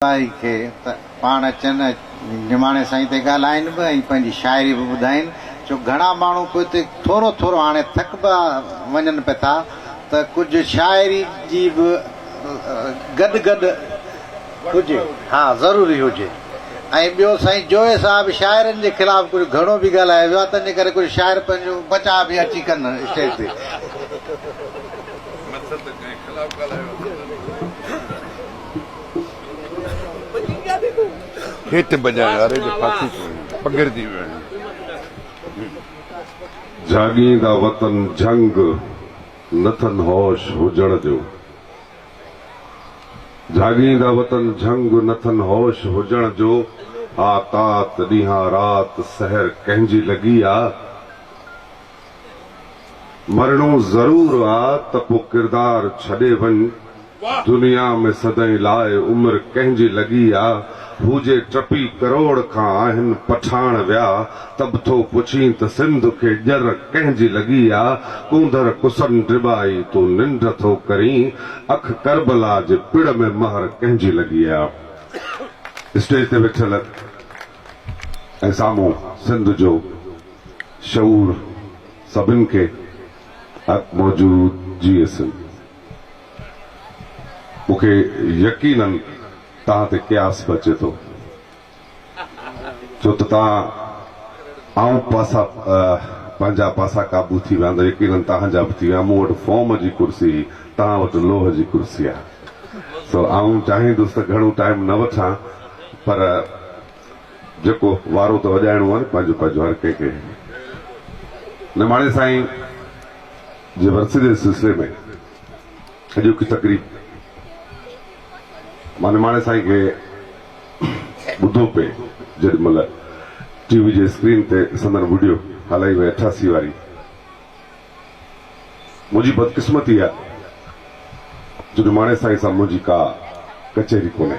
ٻاري کي ته پاڻ اچن نماڻي سائين تي ڳالهائين به ۽ پنهنجي شاعري به ٻڌائين ڇو گهڻا ماڻهو پوئتي ٿورو ٿورو هاڻي ٿڪبا وڃن پئي ٿا ته ڪجهه شاعري جي به گڏ گڏ هجي ها ضروري هجي ۽ ٻيو سائين جويي صاحب شاعرن جي خلاف ڪجهه گهڻو به ڳالهائي ويو آهي تنهنجي ڪري ڪجهه شاعر پنهنجو بچاء به اچي ڪن اسٽيج تي. هيٺ بجاء هاري جي ڦاسي ٿي وڃي ته پگهرجي ويو آهيان. جاڳيندا وطن جهنگ نٿن هوش هجڻ جو. جاڳيندا وطن جهنگ نٿن هوش هجڻ جو آ تات ڏينهان رات سحر ڪنهن جي لڳي آ. مرڻو ضرور آ ته پو ڪردار ڇڏي وڃ دنيا ۾ سدائين لاء عمر ڪنهن جي لڳي آ، هو جي ٽپي ڪروڙ کان آهن پٺاڻ ويا، ته به ٿو پڇين ته سنڌ کي ڄر ڪنهن جي لڳي آ، ڪونڌر ڪسن ڊٻائي تون ننڊ ٿو ڪرين، اک ڪربلا جي پڙ ۾ مهر ڪنهن جي لڳي آ. اسٽيج تي ويٺل ۽ سامهون سنڌ جو شعور سڀن کي موجود جيئي سنڌ. مون کي يقيناً توهان تي قياس به اچي ٿو، ڇو ته توهان آئون پاسا پنهنجا پاسا قابو ٿي ويا ته يقيناً توهان جا به ٿي ويا، مون وٽ فوم جي ڪرسي هئي، توهان وٽ لوهه جي ڪرسي آهي، سو آئون چاهيندس ته گهڻو ٽائيم نه وٺان، پر جيڪو وارو ته وڄائڻو آهي نه پنهنجو پنهنجو هر ڪنهن کي. نماڻي سائين! جي ورسي جي سلسلي ۾ اڄوڪي تقريب مان نماڻي سائين کي ٻڌو پئي جيڏي مھل ٽي وي جي اسڪرين تي سندن وڊيو ھلائي وئي اٺاسي واري منھنجي بدقسمتي اھا جو نماڻي سائين سان منھنجي ڪا ڪچهري ڪونھي.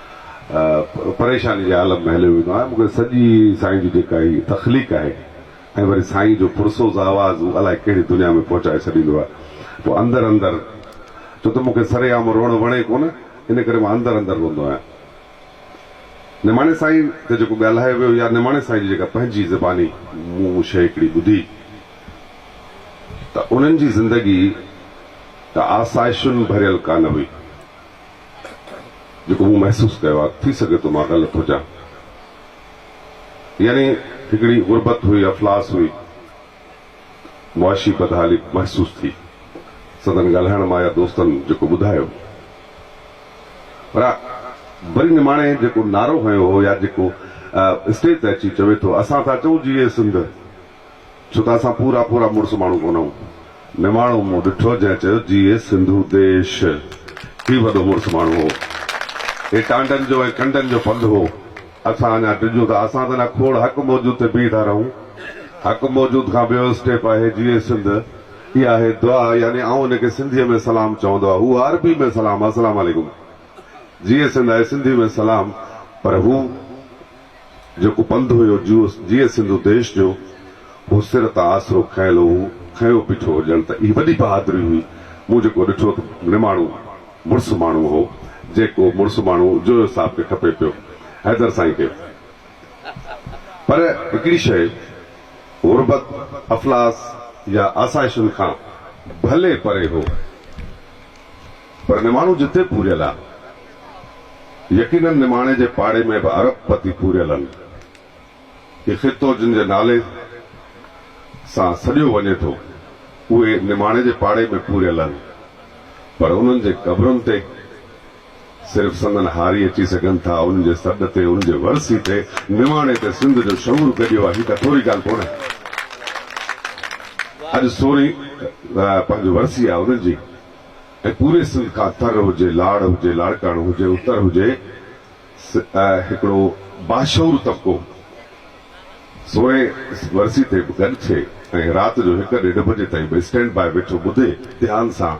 پريشاني جي عالم ۾ هليو ويندو آهيان مون کي سڄي سائين جي جيڪا هي تخليق آهي ۽ وري سائين جو پرسوز آواز هو الائي ڪهڙي دنيا ۾ پهچائي ڇڏيندو آهي پوء اندر اندر ڇو ته مون کي سري عام روئڻ وڻي ڪونه ان ڪري مان اندر اندر روئندو آهيان نماڻي سائين تي جيڪو ڳالهايو ويو يا نماڻي سائين جي جيڪا پنهنجي زباني مون هو شيء هڪڙي ٻڌي ته انهن جي زندگي ته آسائشن ڀريل ڪانه هئي. جيڪو مون محسوس ڪيو آهي، ٿي سگهي ٿو مان غلط هجان. يعني هڪڙي غربت هئي، افلاس هئي، معاشي بدحالي محسوس ٿي. سندن ڳالهائڻ مان يا دوستن جيڪو ٻڌايو هو. پر وري نماڻي جيڪو نعرو هنيو هو يا جيڪو اسٽيج تي اچي چوي ٿو، اسان ٿا چئون جيئي سنڌ! ڇو ته اسان پورا پورا مڙس ماڻهو ڪونه آهيون. نماڻو مون ڏٺو جنهن چيو جيئي سنڌو ديش. هي وڏو مڙس ماڻهو هو. هي ٽانڊن جو ۽ ڪنڊن جو پنڌ هو. اسان اڃا ڊڄون ٿا. اسان ته اڃا کوڙ حق موجود تي بيهي ٿا رهون. حق موجود کان ٻيو اسٽيپ آهي جيئي سنڌ. اها آهي دعا يعني آئون ان کي سنڌيء ۾ سلام چوندو آهي. هو عربي ۾ سلام السلام عليڪم جيئي سنڌ آهي سنڌي ۾ سلام پر هو جيڪو پنڌ هيو جيو جيئي سنڌو ديش جو، هو سر تان آسرو کنيل هو، هو کنيو بيٺو هو، ڄڻ ته اهي وڏي بهادري هئي، مون جيڪو ڏٺو ته نماڻو مڙس ماڻهو هو، جيڪو مڙس ماڻهو جويو صاحب کي کپي پيو، حيدر سائين کي، پر هڪڙي شيء غربت، افلاس يا آسائشن کان ڀلي پري هو. پر نماڻو جتي پوريل آ، يقيناً نماڻي جي پاڙي ۾ به ارب پتي پوريل ان. هي خطو جن جي نالي سان سڏيو وڃي ٿو، اهي نماڻي جي پاڙي ۾ پوريل ان، پر انهن جي قبرن تي صرف سندن هاري اچي سگهن ٿا، انهن جي سڏ تي، انهن جي ورسي تي، نماڻي تي سنڌ جو شعور گڏيو آ، هي ڪا ٿوري ڳالهه ڪونهي. اڄ سورهين پنهنجو ورسي آ انهن جي. ۽ پوري سنڌ کان ٿر هجي، لاڙ هجي، لاڙڪاڻو هجي، اتر هجي س هڪڙو باشعور طبقو سورهين ورسي تي به گڏ ٿئي ۽ رات جو هڪ ڏيڍ بجي تائين به اسٽينڊ باء ويٺو ٻڌي ڌيان سان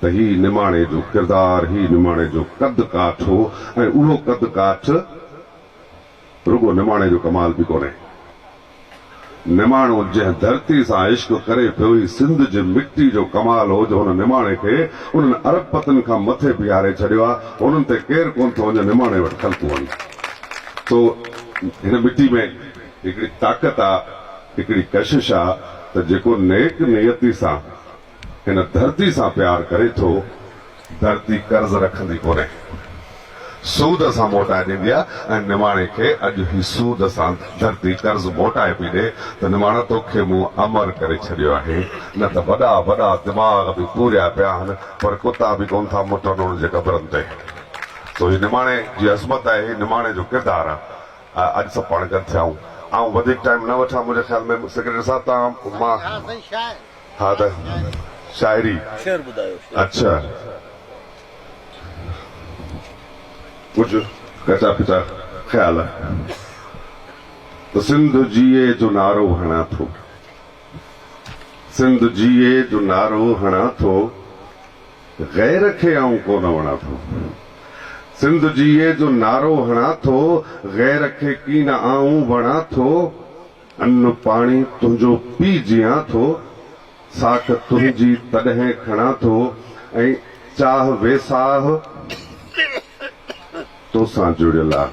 ته هي نماڻي جو ڪردار، هي نماڻي جو قد ڪاٺ هو ۽ اهو قد ڪاٺ رڳو نماڻي جو ڪمال به ڪونهي. نماڻو جنهن ڌرتي سان عشق ڪري پيو هي سنڌ جي مٽي جو ڪمال هو جو هن نماڻي کي انهن ارب پتين کان مٿي بيهاري ڇڏيو آ هنن تي ڪير ڪون ٿو وڃي نماڻي وٽ خلقون وڃن سو هن مٽي ۾ هڪڙي طاقت آ هڪڙي ڪشش آ ته جيڪو نيڪ نيتي سان هن ڌرتي سان پيار ڪري ٿو، ڌرتي قرض رکندي ڪونهي، سود سان موٽائي ڏيندي آهي ۽ نماڻي کي اڄ هي سود سان ڌرتي قرض موٽائي پئي ڏي ته نماڻا توکي مون امر ڪري ڇڏيو آهي، نه ته وڏا وڏا دماغ به پوريا پيا آهن پر ڪتا به ڪونه ٿا مٽن ان جي قبرن تي، سو هي نماڻي جي عظمت آهي، هي نماڻي جو ڪردار آهي، اڄ سڀ پاڻ گڏ ٿيا آهيون، آئون وڌيڪ ٽائيم نه وٺان، منهنجي خيال ۾ سيڪريٽري صاحب توهان مان. ها ته شاعري اچا ڪجهه ڪچا پچا خيال ته سنڌ جيئي جو نعرو هڻان ٿو سنڌ جيئي جو نعرو هڻان ٿو غير کي آئون ڪونه وڻان ٿو سنڌ جيئي جو نعرو هڻان ٿو غير کي ڪين آئون وڻان ٿو ان پاڻي تنهنجو پي جيئان ٿو، ساک تنهنجي تڏهن کڻان ٿو، ۽ چاهه ويساهه تو سان جڙيل آ،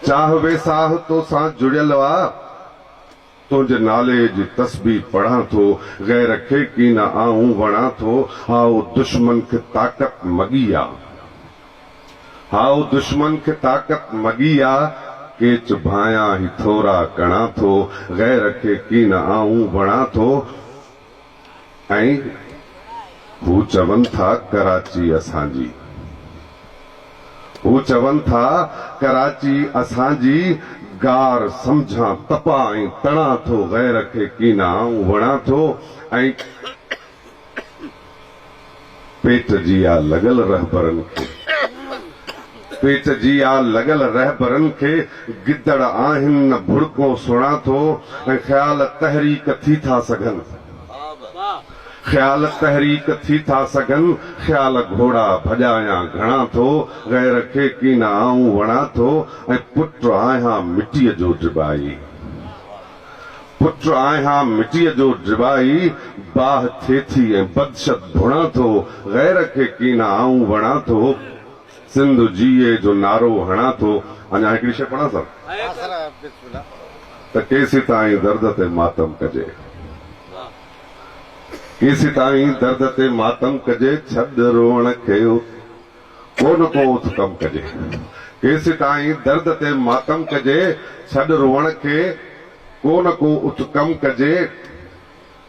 چاهه ويساهه تو سان جڙيل آ، تنهنجي نالي جي تسبيح پڙهان ٿو، غير کي ڪين آئون وڻان ٿو، هائو، دشمن کي طاقت مڳي آ. هائو دشمن کي طاقت مڳي آ، ڪيچ ڀانيان هي ٿورا ڪڻا ٿو، غير کي ڪين آئون وڻا ٿو ۽ هو چون ٿا ڪراچي اسان جي، هو چون ٿا ڪراچي اسان جي، گار سمجهان تپا ۽ تڻا ٿو، غير کي ڪين آئون وڻا ٿو ۽. پيٽ جي آ لڳل رهبرن کي پيٽ جي آ لڳل رهبرن کي گدڙ آهن نه ڀڙڪو سڻان ٿو ۽ خيال تحريڪ ٿي ٿا سگهن خيال تحريڪ ٿي ٿا سگهن خيال گهوڙا ڀڄايان گهڻا ٿو غير کي ڪين آئون وڻان ٿو ۽ پٽ آهيان مٽيء جو ڊٻائي. پٽ آهيان مٽيء جو ڊٻائي، باهه ٿئي ٿي ۽ بدشت ڀڻان ٿو، غير کي ڪينه آئون وڻان ٿو، سنڌ جيئي جو نعرو هڻان ٿو. اڃا هڪڙي شيء پڙهان سر ته ڪيسيتائين درد تي ماتم ڪجي، ڪيسيتائين درد تي ماتم ڪجي، ڇڏ روئڻ کي او. ڪو نه ڪو اٿ ڪم ڪجي. ڪيسيتائين درد تي ماتم ڪجي. ڇڏ روئڻ کي ڪو نه ڪو اٿ ڪم ڪجي.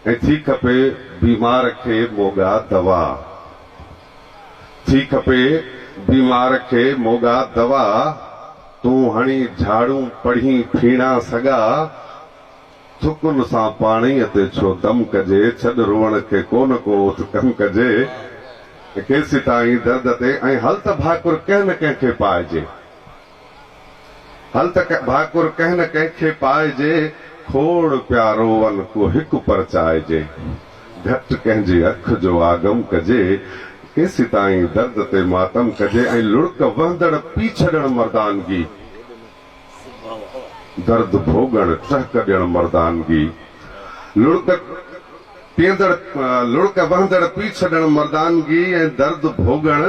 ۽ ٿي کپي بيمار کي موڳا دوا. ٿي کپي بيمار کي موڳا دوا. تون هڻي جهاڙون پڙهين ڦيڻا سڳا. ٿڪن سان پاڻيء تي ڇو دم ڪجي، ڇڏ روئڻ کي ڪو نه ڪو اوت ڪم ڪجي، ۽ ڪيسيتائين درد تي ۽ هل ته ڀاڪر ڪنهن نه ڪنهن کي پائجي، هل ته ڀاڪر ڪنهن نه ڪنهن کي پائجي، کوڙ پيا روئن ڪو هڪ پرچائجي، گهٽ ڪنهن جي اک جو آگم ڪجي، ڪيسيتائين درد تي ماتم ڪجي، ۽ لڙڪ وهندڙ پي ڇڏڻ مردانگي، درد ڀوڳڻ، ٽهڪ ڏيڻ مردانگي، لڙڪ پيئندڙ لڙڪ وهندڙ پي ڇڏڻ مردانگي ۽ درد ڀوڳڻ،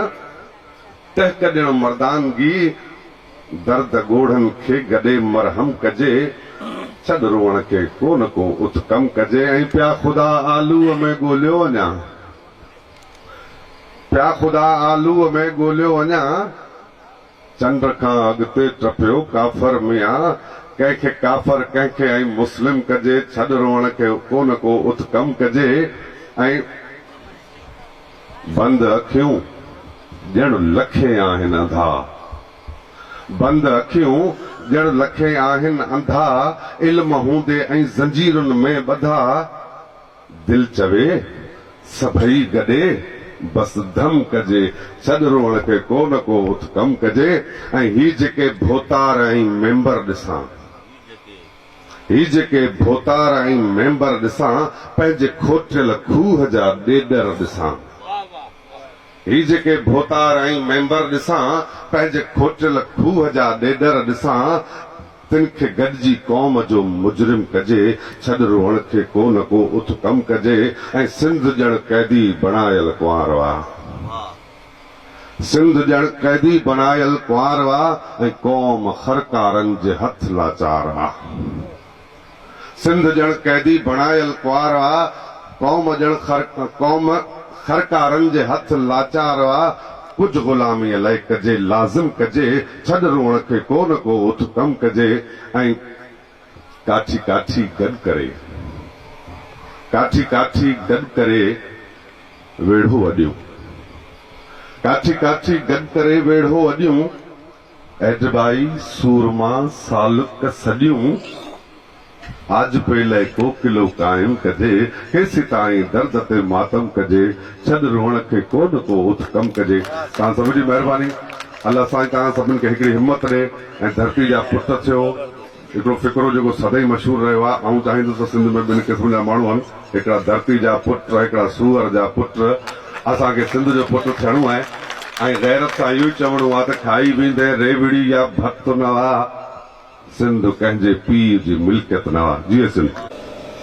ٽهڪ ڏيڻ مردانگي، درد ڳوڙهن کي گڏي مرهم ڪجي، ڇڏ روئڻ کي ڪو نه ڪو اٿ ڪم ڪجي ۽ پيا خدا آلوء ۾ ڳوليو وڃان، پيا خدا آلوء ۾ ڳوليو وڃان. چنڊ کان اڳتي ٽپيو ڪافر ميان ڪنهن کي ڪافر ڪنهن کي ۽ مسلم ڪجي ڇڏ روئڻ کي ڪو نه ڪو اٿ ڪم ڪجي ۽ بند اکيون ڄڻ لکين آهن انڌا بند اکيون ڄڻ لکين آهن انڌا علم هوندي ۽ زنجيرن ۾ ٻڌا دل چوي سڀئي گڏي بس ڌم ڪجي ڇڏ روئڻ کي ڪو نه ڪو اٿ ڪم ڪجي ۽ هي جيڪي ڀوتار ۽ ميمبر ڏسان هي جيڪي ڀوتار ۽ ميمبر ڏسان پنهنجي کوٽيل کوهه جا ڏيڏر ڏسان هي جيڪي ڀوتار ۽ ميمبر ڏسان پنهنجي کوٽيل کوهه جا ڏيڏر ڏسان تن کي گڏجي قوم جو مجرم ڪجي ڇڏ روهڻ کي ڪو نه ڪو اٿ ڪم ڪجي ۽ سنڌ ڄڻ قيدي بڻايل ڪنوارو آ سنڌ ڄڻ قيدي بڻايل ڪنوارو آ ۽ قوم خرڪارن جي هٿ لاچار آ. سنڌ ڄڻ قيدي بڻايل ڪوار آ، قوم ڄڻ خر قوم خرڪارن جي هٿ لاچار آ، ڪجهه غلامي الائي ڪجي لازم ڪجي، ڇڏ روئڻ کي ڪو نه ڪو اٿ ڪم ڪجي ۽ ڪاٺي ڪاٺي گڏ ڪري ڪاٺي ڪاٺي گڏ ڪري ويڙهو اڏيون ڪاٺي ڪاٺي گڏ ڪري ويڙهو اڏيون. ايڊبائي، سورما، سالڪ، سڏيون، آجپيلئه ڪو قلعو قائم ڪجي، ڪيسيتائين درد تي ماتم ڪجي، ڇڏ روئڻ کي ڪو نه ڪو اٿ ڪم ڪجي. توهان سڀ جي مهرباني. الله سائين توهان سڀن کي هڪڙي همت ڏي ۽ ڌرتي جا پٽ ٿيو. هڪڙو فقرو جيڪو سدائين مشهور رهيو آهي، آئون چاهيندس ته سنڌ ۾ ٻن قسم جا ماڻهو آهن، هڪڙا ڌرتي جا پٽ، هڪڙا سوئر جا پٽ. اسان کي سنڌ جو پٽ ٿيڻو آهي ۽ غيرت سان اهو ئي چوڻو آهي ته کائي ويندين ريوڙي يا ڀت نوان، سنڌ ڪنهن جي پيء جي ملڪيت نوان. جيئي سنڌ!